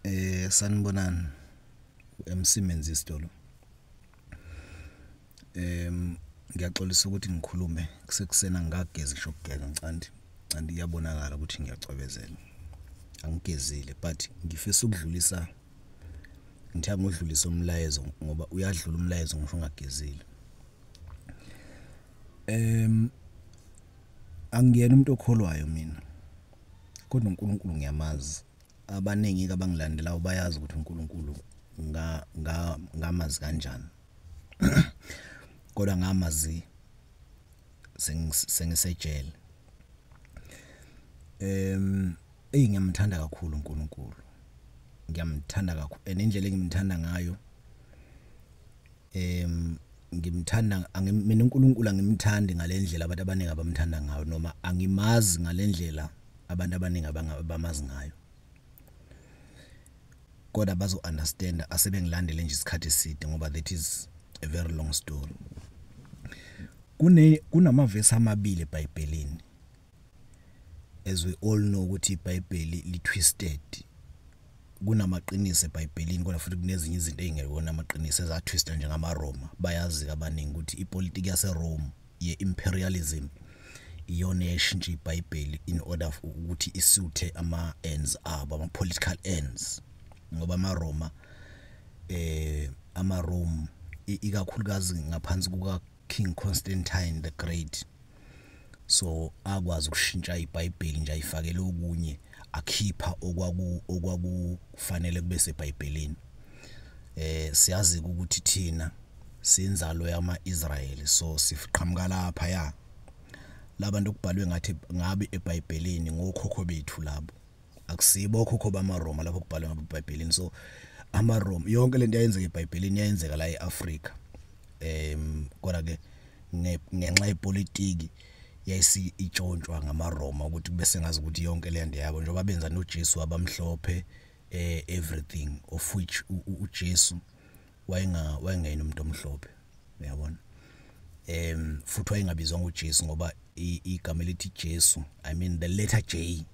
eh sanibonani emsimenzi isitolo em ngiyaxolisa ukuthi ngikhulume kusekusena ngagezi ngisho ukugeza ngicandi candi iyabonakala ukuthi ngiyacwebezela angigezile but ngifisa ukudlulisa ngithe ngudlulisa umlayezo ngoba uyadlula umlayezo ngisho ungagezile em angiyena umuntu okholwayo mina kodwa uNkulunkulu ngiyamazi abaningi kabangilandelayo bayazi ukuthi uNkulunkulu nga nga ngamazi kanjani kodwa ngamazi sengisejele em eyi ngiyamthanda kakhulu uNkulunkulu ngiyamthanda kakhulu and indlela engimthanda ngayo em ngimthanda mina uNkulunkulu angimthandi ngalendlela abantu abaningi abamthanda ngayo noma angimazi ngalendlela abantu abaningi abamazi ngayo kodwa bazo understand asebengilandele nje isikhathi eside ngoba that is a very long story kune kunamavesi amabili eBhayibhelini as we all know ukuthi iBhayibheli li twisted kunamaqiniso eBhayibhelini kodwa futhi kunezinye izinto ezingekona amaqiniso ezatwistwa njengamaRoma bayazi kabaningi ukuthi ipolitiki yaseRome ye-imperialism iyona eyashintsha iBhayibheli in order ukuthi isuthe ama-ends abo ama-political ends ngoba amaRoma eh amaRome ikakhulukazi ngaphansi kuka King Constantine the Great so akwazi ukushintsha iBhayibheli nje ayifakele okunye akhipha okwaku okwakufanele kube seBhayibhelini eh siyazi ukuthi thina sinzalo yama-Israyeli so siqhamuka lapha ya labantu okubhalwe ngathi ngabe eBhayibhelini ngokhokho bethu labo akusibo okhokho bamaRoma lapho kubhalwe ngabo eBhayibhelini so amaRoma yonke lento yayenzeka eBhayibhelini yayenzeka la eAfrika em kodwa ke ngenxa yepolitiki yayisi itshontshwa ngamaRoma ukuthi bese ngazi ukuthi yonke le nto yabo njengoba benza noJesu abamhlophe eh everything of which uJesu wayenga wayengena umuntu omhlophe uyabona em futhi wayengabizwa ngoJesu ngoba igama elithi Jesu i mean the letter J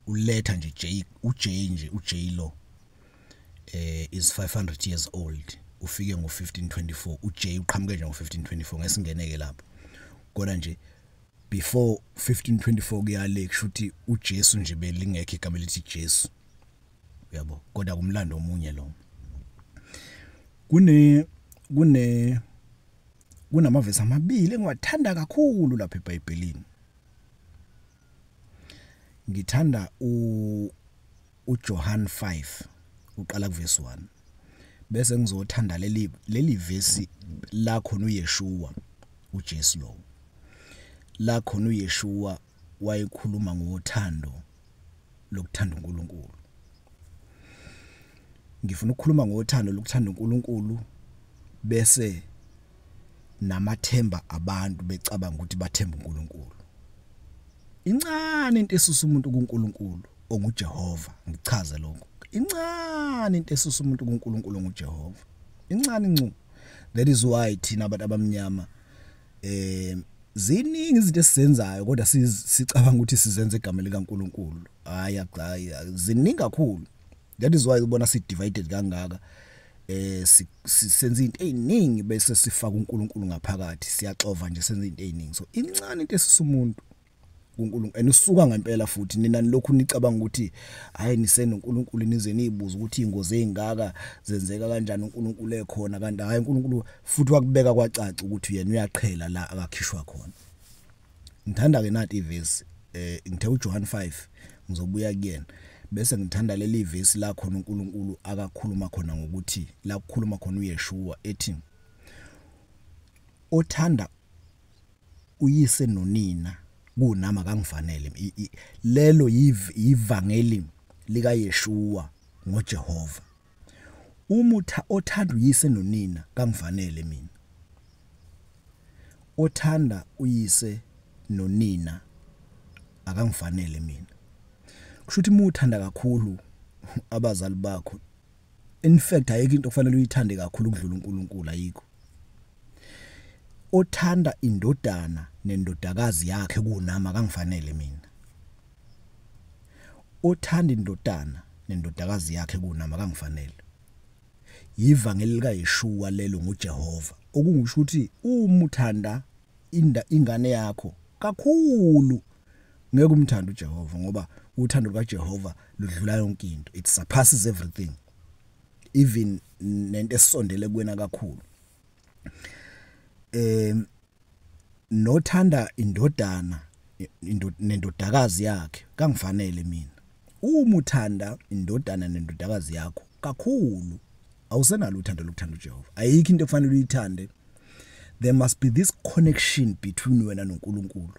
uletha nje J uJ nje uJ lo eh is 500 years old ufike ngo 1524 uJ uqhamuke nje ngo 1524 ngesingeneke lapho kodwa nje before 1524 kuyale kushuthi uJesu nje belingekho igama elithi Jesu uyabo kodwa kumlando omunye lo kune kune kunamavesi amabili engiwathanda kakhulu lapha eBhayibhelini ngithanda u uJohn 5 uqala kuverse 1 bese ngizothanda leli leli verse la khona uYeshua uJesu lo la khona uYeshua wayekhuluma ngothando lokuthanda uNkulunkulu ngifuna ukukhuluma ngothando lokuthanda uNkulunkulu bese namathemba abantu becabanga ukuthi bathemba uNkulunkulu incane into esusa umuntu kuNkulunkulu onguJehova ngichaze lokho incane into esusa umuntu kuNkulunkulu onguJehova incane ncu that is why thina abantu abamnyama eh ziningi izinto esizenzayo kodwa sicabanga ukuthi sizenza igama likaNkuluNkulu hayi hayi ziningi kakhulu that is why ubona si divided kangaka eh senza into eziningi bese sifaka uNkulunkulu ngaphakathi siyaxova nje senza into eziningi so incane into esisumuntu uNkulunkulu and usuka ngempela futhi nina lokhu nicabanga ukuthi hayi nisena uNkulunkulu nize niyibuza ukuthi ingozi ezingaka zenzeka kanjani uNkulunkulu ekhona kanti hayi uNkulunkulu futhi wakubeka kwacaca ukuthi yena uyaqhela la akakhishwa khona ngithanda ke nati ivesi eh ngithe uJohn 5 ngizobuya kuyena bese ngithanda leli vesi la khona uNkulunkulu akakhuluma khona ngokuthi la kukhuluma khona uYeshua ethi othanda uyise nonina kunami akangifanele lelo yivangeli likaYeshua ngoJehova umutha othanda uyise nonina kangifanele mina othanda uyise nonina akangifanele mina kusho ukuthi muthanda kakhulu abazali bakho in fact ayikho into okufanele uyithande kakhulu ukudlula uNkulunkulu ayikho othanda indodana nendodakazi yakhe kunami akangifanele mina othanda indodana nendodakazi yakhe kunama kangifanele yivangeli likaYeshua lelo nguJehova okungisho ukuthi uma uthanda inda ingane yakho kakhulu ngeke umthande uJehova ngoba uthando lukaJehova ludlula yonke into it surpasses everything even nento esondele kuwena kakhulu em nothanda indodana nendodakazi yakhe kangifanele mina uma uthanda indodana nendodakazi yakho kakhulu awusenalo uthando lokuthanda uJehova ayikho into efanele uyithande there must be this connection between wena noNkulunkulu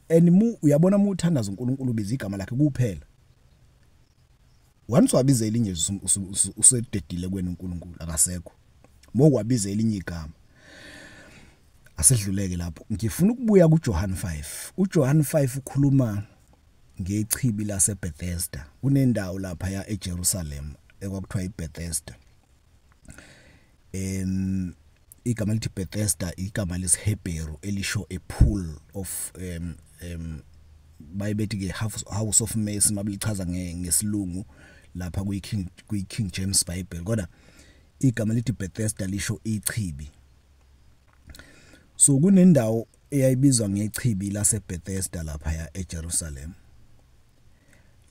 and mu uyabona uma uthandaza uNkulunkulu biza igama lakhe kuphela once wabiza elinye nje usededile kwenu uNkulunkulu akasekho mokwabiza elinye igama asedluleke lapho ngifuna ukubuya kuJohn 5 uJohn 5 ukhuluma ngechibi laseBethesda kunendawo lapha ya eJerusalem ekwakuthiwa iBethesda um igama lithi Bethesda igama lesiHebheru elisho a pool of um um bayibethi ke house of mercy mabilichaza ngesilungu lapha kuyi King kuyi King James Bible kodwa igama lithi Bethesda lisho ichibi so kunendawo eyayibizwa ngechibi laseBethesda lapha ya eJerusalem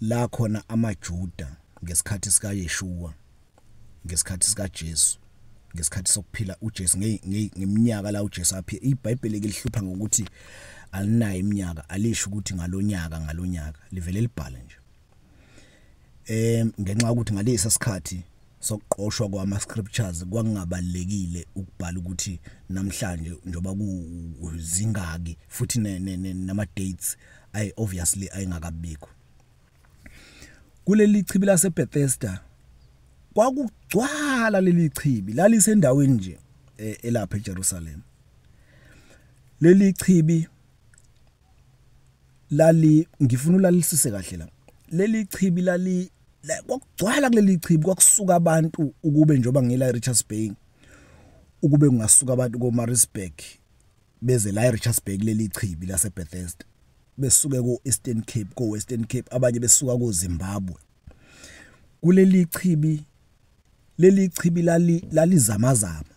la khona amaJuda ngesikhathi sikaYeshua ngesikhathi sikaJesu ngesikhathi sokuphila uJesu ngeminyaka la uJesu aphi iBhayibheli lihlupha ngokuthi alinayo iminyaka alisho ukuthi ngalonyaka ngalonyaka livele libhale nje em ngenxa ukuthi ngalesi sikhathi sokuqoshwa kwama scriptures kwakungabalekile ukubhala ukuthi namhlanje njoba kuzingaki futhi nama dates ay obviously ayingakabikho kuleli chibi lase Bethesda kwakugcwala leli chibi lalisendaweni nje e, elapha eJerusalem leli chibi lali ngifuna ulalisise kahle la leli chibi lali kwakugcwala kuleli chibi kwakusuka abantu ukube njoba ngila Richards Bay ukube kungasuka abantu koMaritzburg beze la eRichards Bay kuleli chibi laseBethesda besuke ku-Eastern Cape ko-Western Cape abanye besuka koZimbabwe kuleli chibi leli chibi lali lalizamazama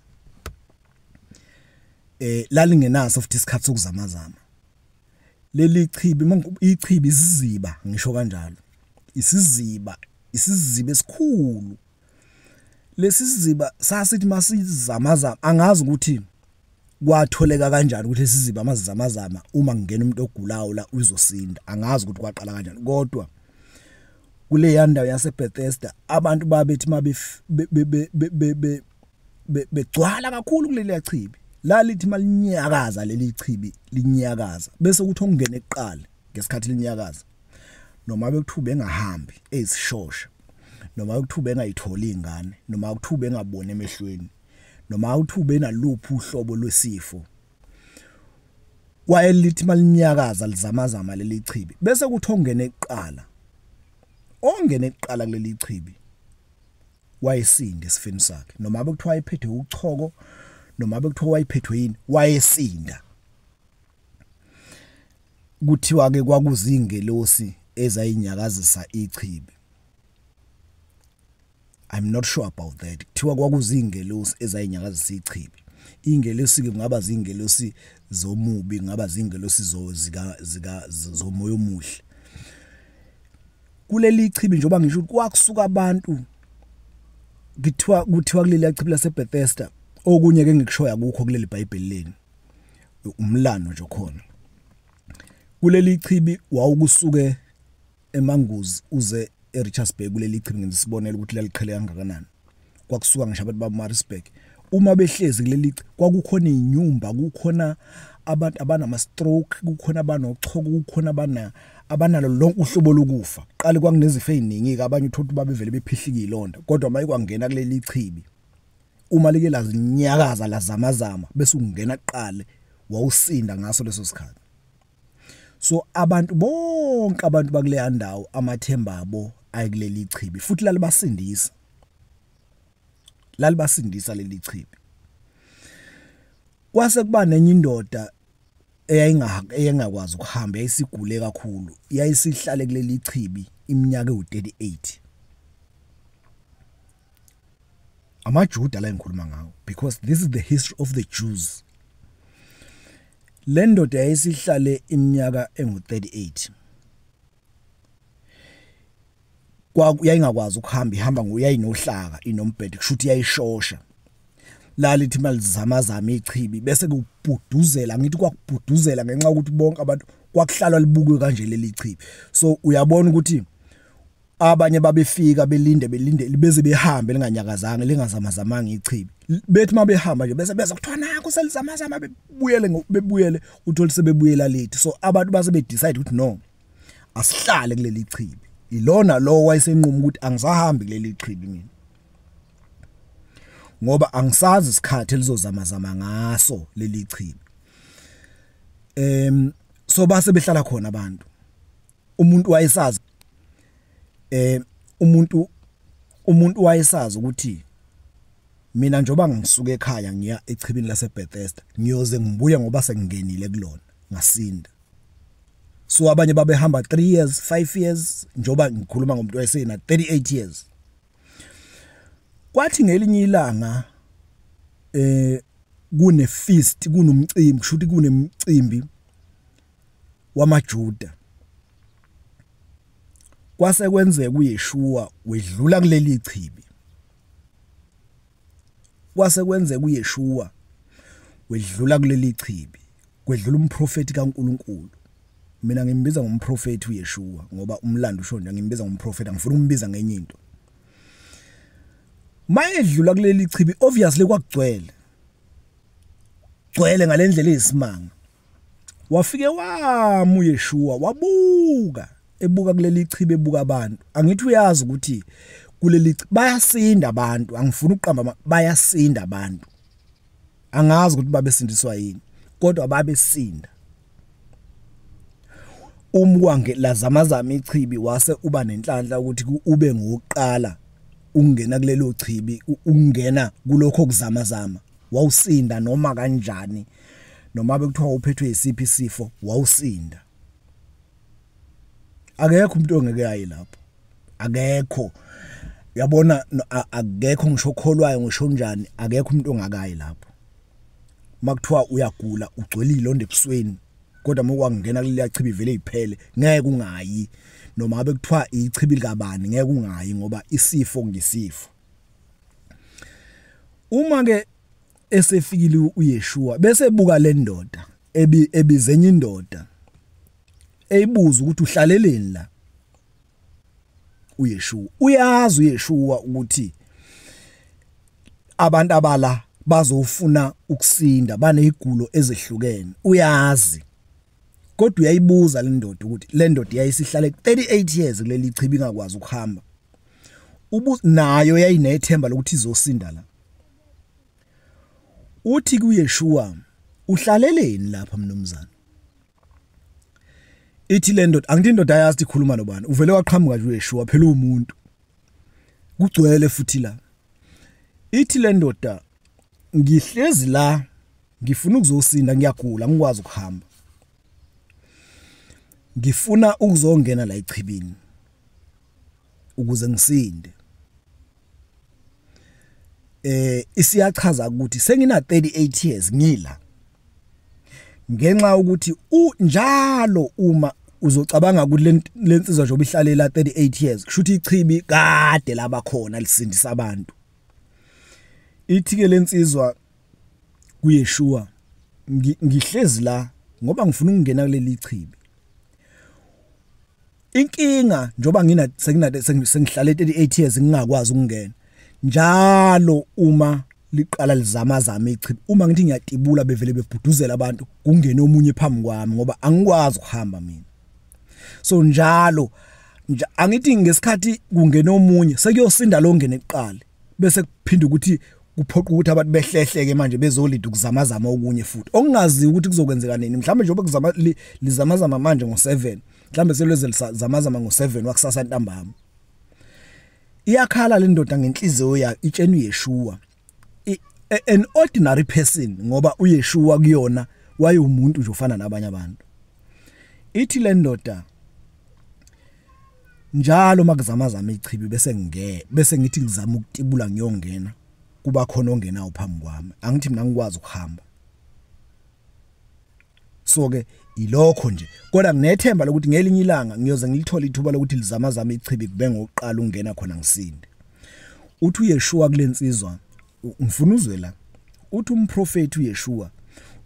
eh lalingenaso futhi isikhathi sokuzamazama leli chibi ichibi isiziba ngisho kanjalo isiziba isiziba esikhulu lesi siziba sasithi masizamazama angazi ukuthi kwatholeka kanjani ukuthi lesi siziba masizamazama uma ngingena umuntu ogulayo la uzosinda angazi ukuthi kwaqala kanjani kodwa kule yandawo yaseBethesda abantu babethi mabef begcwala kakhulu kuleli yachibi lalithi malinyakaza leli chibi linyakaza bese ukuthi ongena eqala ngesikhathi linyakaza noma bekuthuba engahambi ezishosha noma ukuthuba engayitholi ingane noma ukuthuba engaboni emehlweni noma ukuthuba enaluphi uhlobo lwesifo wayelithi malinyakaza lizamazama leli chibi bese kuthi ongene eqala ongene eqala kuleli chibi wayesinde isifini sakhe noma bekuthiwa ephethe uchoko noma bekuthiwa wayiphethwe yini wayesinda kuthiwa ke kwakuzingelosi ezayinyakazisa ichibi I'm not sure about that kuthiwa kwakuzingelosi ezayinyakazisa ichibi ingelosi ke kungaba zingelosi zomubi ngaba zingelosi zozika zika zomoya omuhle kuleli chibi njengoba ngisho ukuthi kwakusuka abantu kuthiwa kuthiwa kuleli chibi laseBethesda okunye ke ngikushoya kukho kuleli Bhayibheli leni umlando nje khona kuleli chibi wawukusuke emanguzi uze eRichards Bay kuleli chibi ngisibonela ukuthi laliqhele kangakanani kwakusuka ngisho abantu baMaritzburg uma behlezi kuleli kwakukhona inyumba kukhona abantu abanama stroke kukhona abanochoko kukhona abana abanalo lonke uhlobo lokufa qale kwakunezifo eziningi ke abanye uthola babevele bephihlika ilonda kodwa maye kwangena kuleli chibi uma leke lazinyakaza lazamazama bese ungena qale wawusinda ngaso leso sikhathi so abantu bonke abantu bakuleya ndawo amathemba abo ayikuleli chibi futhi lalibasindisa lalibasindisa leli chibi kwase kuba nenye indoda eyayingakwazi ukuhamba yayisigule kakhulu yayisihlale kuleli chibi iminyaka ewu38 amaJuda la engikhuluma ngawo because this is the history of the Jews lendoda yayisihlale iminyaka engu38 kwa yayingakwazi ukuhamba ihamba ngoyayinohlaka inombhedo kushuthi yayishosha lalithi malizama zama ichibi bese kubhuduzela ngithi kwakubhuduzela ngenxa ukuthi bonke abantu kwakuhlalwa libukwe kanje leli chibi so uyabona ukuthi abanye babefika belinde belinde beze behambe linganyakazanga lingazamazamanga ichibi bethi mabehamba nje bese beza kuthiwa naku selizamazama bebuyele bebuyele uthole sebebuyela late so abantu base be decide ukuthi no asihlale kuleli chibi ilona lo wayesenquma ukuthi angisahambi kuleli chibi mina ngoba angisazi isikhathi elizozamazama ngaso leli chibi em so base behlala khona abantu umuntu wayesazi eh umuntu umuntu wayesazi ukuthi mina njoba ngisuke ekhaya ngiya echibini laseBethesda ngiyoze ngibuye ngoba sengingenile kulona ngasinda so abanye babehamba 3 years 5 years njoba ngikhuluma ngomuntu wayesena 38 years kwathi ngelinye ilanga eh kune feast kunomcimbi kushuthi kunemcimbi wamaJuda. Kwase kwenzeka uYeshua wedlula kuleli chibi. Kwase kwenzeka uYeshua wedlula kuleli chibi, kwedlula umprofeti kaNkuluNkulu. Mina ngimbiza ngomprofeti uYeshua ngoba umlando usho nje ngimbiza ngomprofeti angifuni umbiza ngenye into. Mayedlula kuleli chibi obviously kwagcwele. Gcwele ngalendlela eyisimanga. wafike wamu Yeshua wabuka ebuka kuleli chibe ebuka abantu angithi uyazi ukuthi kuleli bayasinda abantu angifuni ukuqamba bayasinda abantu angazi ukuthi babesindiswa yini kodwa babesinda umwange lazamazama ichibi wase uba nenhlanhla ukuthi ube ngokuqala ungena kulelo chibi ungena kulokho kuzamazama wawusinda noma kanjani noma bekuthiwa uphethwe yisiphi isifo wawusinda akekho umuntu ongeke ayi lapho akekho yabona akekho ngisho kholwayo ngisho njani akekho umuntu ongakayi lapho makuthiwa uyagula ugcwele ilonde ebusweni kodwa uma kwangena kuliya chibi vele iphele ngeke ungayi noma ngabe kuthiwa ichibi likabani ngeke ungayi ngoba isifo ngisifo uma ke esefikile uYeshua bese buka le ndoda ebi ebizenye indoda eyibuza ukuthi uhlaleleni la uYeshua uyazi uYeshua ukuthi abantu abala bazofuna ukusinda banezigulo ezehlukene uyazi kodwa uyayibuza le ndoda ukuthi le ndoda yayisihlale 38 years kuleli chibi ingakwazi ukuhamba ubu nayo yayinethemba lokuthi izosinda la uthi kuYeshua uhlaleleni lapha mnumzane ithi le ndoda angithi indoda ayazi ikhuluma nobani uvele waqhamuka nje uYeshua phela umuntu kugcwele futhi la ithi le ndoda ngihlezi la ngifuna ukuzosinda ngiyagula ngikwazi ukuhamba ngifuna ukuzongena la echibini ukuze ngisinde eh isiyachaza ukuthi sengina 38 years ngila ngenxa ukuthi u njalo uma uzocabanga ukuthi lensizwa nje obihlalela 38 years kusho ukuthi ichibi kade laba khona lisindisa abantu ithi ke lensizwa kuyeshuwa ngihlezi la ngoba ngifuna ukungena kuleli chibi inkinga njoba ngina sengina sengihlale 38 years ngingakwazi ukungena njalo uma liqala lizama zama ichibi uma ngithi ngiyatibula bevele bebhuduzela abantu kungene omunye phambi kwami ngoba angikwazi ukuhamba mina so njalo nje angithi ngesikhathi kungena omunye sekuyosinda lo ngene kuqala bese kuphinda ukuthi kuphoqa ukuthi abantu behlehleke manje bezolida ukuzamazama okunye futhi okungazi ukuthi kuzokwenzeka nini mhlawumbe njengoba kuzama lizamazama manje ngo7 mhlambe selweze zamazama ngo7 wakusasa ntambama iyakhala le ndoda ngenhliziyo yakhe itshena uyeshuwa an ordinary person ngoba uyeshuwa kuyona wayewumuntu nje ufana nabanye abantu ithi le ndoda njalo makuzama zama ichibi bese nge bese ngithi ngizama ukutibula ngiyongena kuba khona ongenawo phambi kwami angithi mina ngikwazi ukuhamba so ke ilokho nje kodwa nginethemba lokuthi ngelinye ilanga ngiyoze ngilithole ithuba lokuthi lizama zama ichibi kube ngokuqala ungena khona ngisinde uthi uyeshuwa kulensizwa ngifuna uzwe la uthi umprofeti uyeshuwa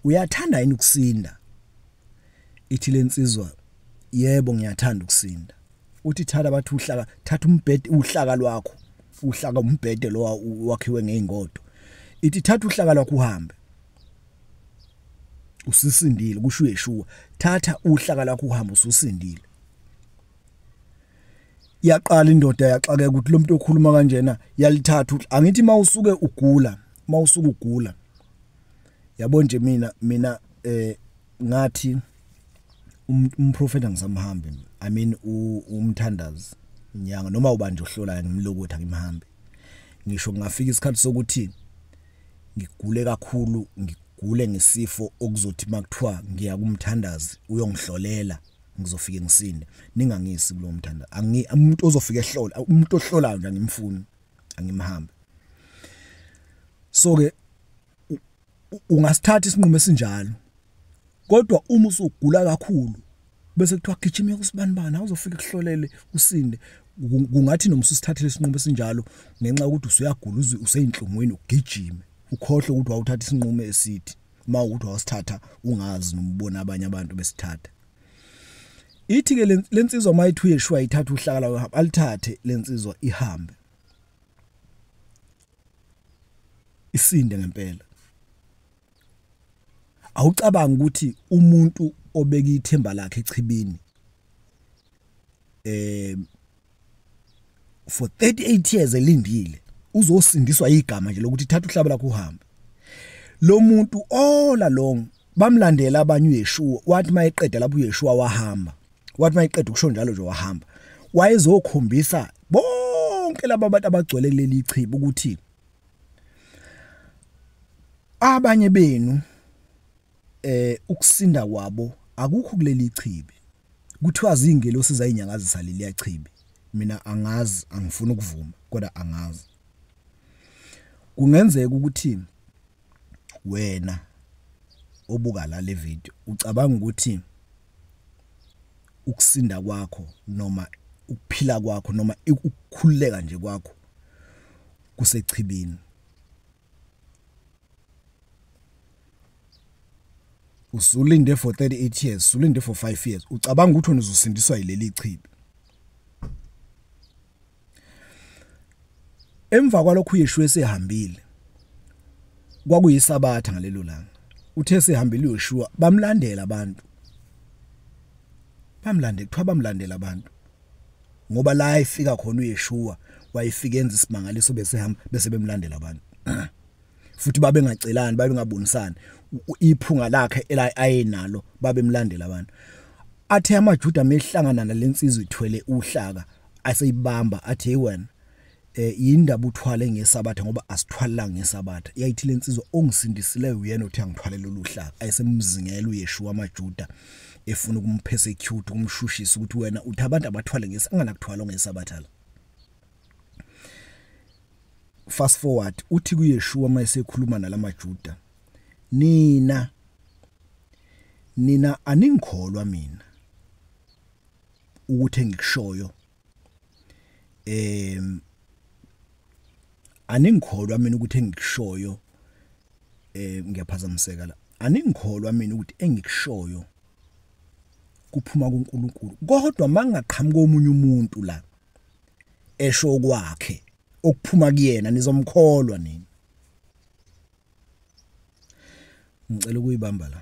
uyathanda yini ukusinda ithi lensizwa yebo ngiyathanda ukusinda uthi thatha bathi uhlaka thatha umbhede uhlaka lwakho uhlaka umbhede lo wakhiwe ngeingodo ithi thatha uhlaka lwakho uhambe usisindile kusho uYeshua thatha uhlaka lakho uhamba ususindile yaqala indoda yaxakeka ukuthi lo muntu okhuluma kanjena yalithatha ukuthi angithi uma usuke ugula uma usuke ugula yabo nje mina mina eh ngathi um, umprofeta ngisamhambi i mean umthandazi inyanga noma ubanje uhlolayo ngimlokuthi akimhambi ngisho ngafika isikhathi sokuthi ngigule kakhulu ngigule ngesifo okuzothi makuthiwa ngiya kumthandazi uyongihlolela ngizofike ngisinde ningangisi kulo mthanda angi umuntu ozofika ehlola umuntu ohlolayo nje angimfuni angimhambe so ke ungasithatha isinqumo esinjalo kodwa uma usugula kakhulu bese kuthiwa gijima yokusibanibani awuzofika kuhlolele usinde kungathi noma usithathele isinqumo esinjalo ngenxa yokuthi usuyagula uze useyinhlungwini ugijime ukhohle ukuthi wawuthatha isinqumo esithi uma ukuthi wasithatha ungazi nomubona abanye abantu besithatha ithi ke lensizwa mayithi uyeshwa ithatha uhlakala uhamba alithathe lensizwa ihambe isinde ngempela awucabanga ukuthi umuntu obeka ithemba lakhe echibini eh for 38 years elindile uzosindiswa igama nje lokuthi thatha uhlaba lakho uhambe lo muntu all along bamlandela abanye uYeshua wathi mayeqeda lapho uYeshua wahamba wathi mayeqeda ukusho njalo nje wahamba wayezokhombisa bonke laba bantu abagcwele kuleli chibi ukuthi abanye benu eh ukusinda kwabo akukho kuleli chibi kuthiwa zingelo sizayinyakazisa leli chibi mina angazi angifuni ukuvuma kodwa angazi kungenzeka ukuthi wena obuka la le video ucabanga ukuthi ukusinda kwakho noma ukuphila kwakho noma ukukhululeka nje kwakho kusechibini usulinde for 38 years usulinde for 5 years ucabanga ukuthi wena uzosindiswa yileli chibi emva kwalokho uYeshu esehambile kwakuyisabatha ngalelo langa uthe sehambile uYeshua bamlandela abantu bamlande kuthiwa bamlandela abantu ngoba la ifika khona uyeshuwa wayifika enza isimangaliso bese hamba bese bemlandela abantu futhi babe ngacelani babe ngabonisani iphunga lakhe ela ayenalo babe mlandela abantu athe amajuda mehlangana nalensizwe ithwele uhlaka aseyibamba athe wena eh yindaba uthwale ngesabatha ngoba asithwalanga ngesabatha yayithi lensizwa ongisindisileyo uyena othi angithwalele oluhlaka ayisemzingela uyeshuwa amajuda efuna ukumpersecute ukumshushisa ukuthi wena uthi abantu abathwale ngesangana kuthwala ngesabatha la fast forward uthi kuyeshuwa uma esekhuluma nalamajuda nina nina aningikholwa mina ukuthi engikushoyo em aningikholwa mina ukuthi engikushoyo eh ngiyaphazamiseka la aningikholwa mina ukuthi engikushoyo kuphuma kuNkulunkulu kodwa mangaqhamuka omunye umuntu la esho kwakhe okuphuma kuyena nizomkholwa nini ngicela ukuyibamba la